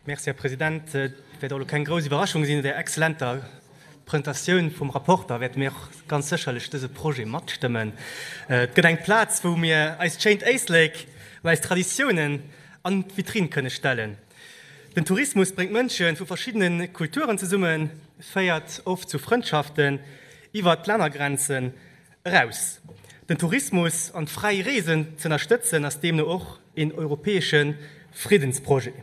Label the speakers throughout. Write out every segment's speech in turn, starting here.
Speaker 1: Merci, Här President. Et wäert och elo keng grouss Iwwerraschung sinn, no där exzellenter Presentatioun vum Rapporter wäerte mir och ganz sécherlech dëse Projet matstëmmen. Et gëtt eng Plaz, wou mir eist schéint Éislek an eis Traditiounen an d'Vitrinn kënne stellen. Den Tourismus bréngt Mënsche vu verschiddene Kulturen zesummen, féiert oft zu Frëndschaften iwwert d'Lännergrenzen, Eraus. Den Tourismus an d'fräi Reesen z'ënnerstëtzen ass deemno och een europäesche Friddensprojet.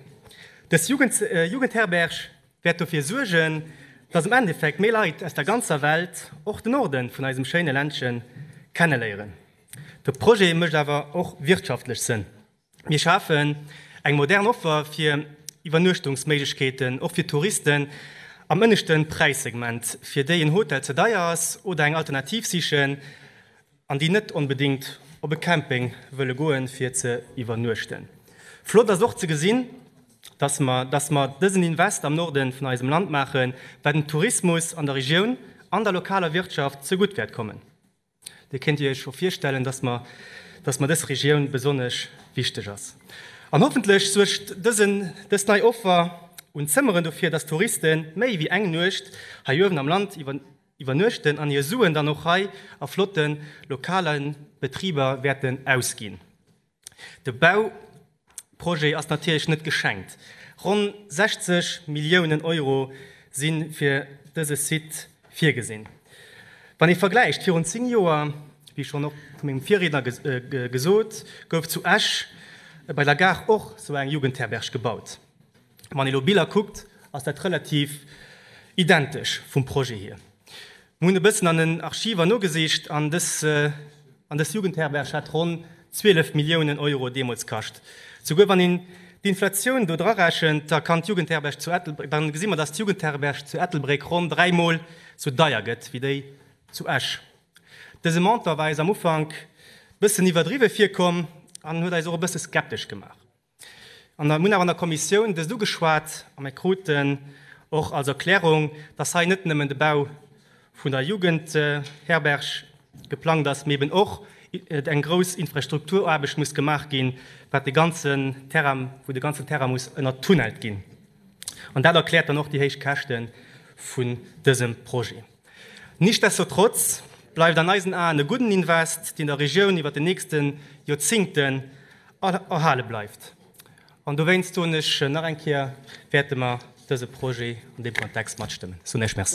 Speaker 1: Dës Jugendherberg wäert dofir suergen, dass am Endeffekt méi Leit aus der ganzer Welt och de Norde vun eisem schéine Ländche kenneléieren. De Projet mécht awer och wirtschaftlech Sënn. Mir schafen eng modern Offer fir Iwwernuechtungsméiglechkeeten, och fir Touristen am ënneschte Präissegment, fir déi en Hotel ze deier ass oder eng Alternativ sichen an déi net onbedéngt op e Camping wëlle goen, fir ze iwwernuechten. Flott ass och ze gesinn, dass mer, dass mer dësen Invest am Norden vun eisem Land maachen, wat dem Tourismus an der Regioun an der lokaler Wirtschaft zegutt wäert kommen. Dir kéint Dir Iech scho virstellen, dass mer dass mer dës Regioun besonnesch wichteg ass. An hoffentlech suergt dësen dës nei Offer un Zëmmeren dofir, dass Touriste méi wéi eng Nuecht hei uewen am Land iwwer iwwernuechten an hir Suen dann och hei a flotte lokale Betriber wäerten ausginn. De Bauprojet ass natierlech net geschenkt. Ronn 60 Milliounen Euro si fir dëse Site virgesinn. Wann ee vergläicht, virun 10 Joer, wéi schonn och vu mengem Virriedner gesot, gouf zu Esch bei der Gare och esou eng Jugendherberg gebaut. Wann ee lo Biller kuckt, ass dat relativ identesch vum Projet hier. Mir hunn e bëssen an den Archiver nogesicht an dës Jugendherberg hat ronn 12 Milliounen Euro deemools kascht. Souguer wann een d'Inflatioun do drarechent, da kann d'Jugendherberg zu Ettelbréck, da gesi mer, dass d'Jugendherberg zu Ettelbréck ronn dräi Mol sou deier gëtt wéi déi zu Esch. Dëse Montant war eis am Ufank e bëssen iwwerdriwwe virkomm an huet eis och e bësse skeptesch gemaach. An mir hunn awer an der Kommissioun dëst ugeschwat a mir kruten och als Erklärung, dass hei net nëmmen de Bau vun der Jugendherberg geplangt ass, mee eben och eng grouss Infrastrukturaarbecht muss gemaach ginn, wat de ganzen Terrain, wou de ganzen Terrain muss ënnertunnelt ginn. An dat erkläert dann och déi héich Käschte vun dësem Projet. Nichtsdestotrotz bleift an eisen Aen e gudden Invest, deen der Regioun iwwer den nächste Joerzingten erhale bleift. An dowéinst soen ech nach eng Kéier, wäerte mer dëse Projet an deem Kontext matstëmmen. Ech soen Iech Merci.